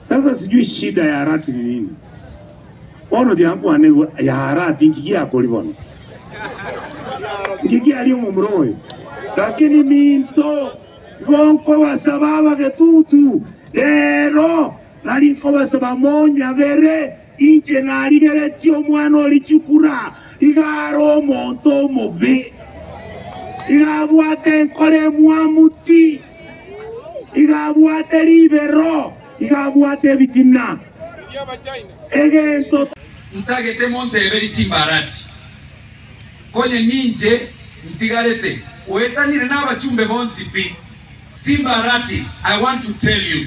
Sasa sijui shida ya Arati ni nini? Bono tiakwanigwa ya Arati nki giakori bono? Nki giari omomura oyo? Lakini minto igo nkobasaba abagetutu rero, nari nkobasaba monyabere Inche narigeretie omwana o richukura, iga are omonto omobe, iga abwate enkoro emwamu ti, iga abwate ribero, iga abwate ebitina, egento. Ntagete montebe Risimbarati, konye ninche ntigarete oetanire nabachumbe bonsi pi. Simbarati, I want to tell you,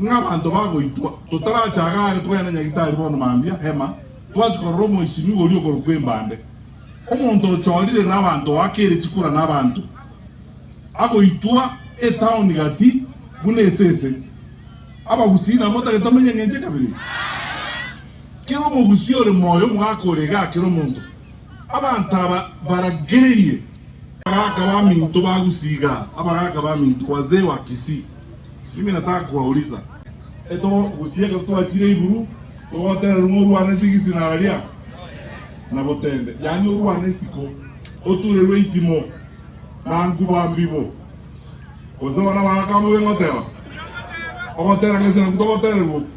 Ng'a abanto bagoitwa, totaracha iga aye togenda Nyagitari bono mambia, Hema, twachia korora omoisimigwa oria okorokwa Embande, omonto ochorire nabaanto goaka ere chikura nabaanto, agoitwa etaoni gati buna esese. Abagusii nabwo otagete omenye engencho ekabere eye. Kera omogusii ore moyo omogaka ore iga akere omonto. Abanto aba baragererie. Abagaka baminto bagusii iga, abagaka baminto, wazee wa Kisii. Ime nataka kobaulisa, etogoro gosii ekero twachire iguru, togotererwa ng'a orwane ase egesinara gia Nabotende, yaani orwane isiko, oturerwe eitimo na nkuba mbibo. Gose bana baakama bobe ngoteba, Ogotera ng'a ase naku togotererwa oku.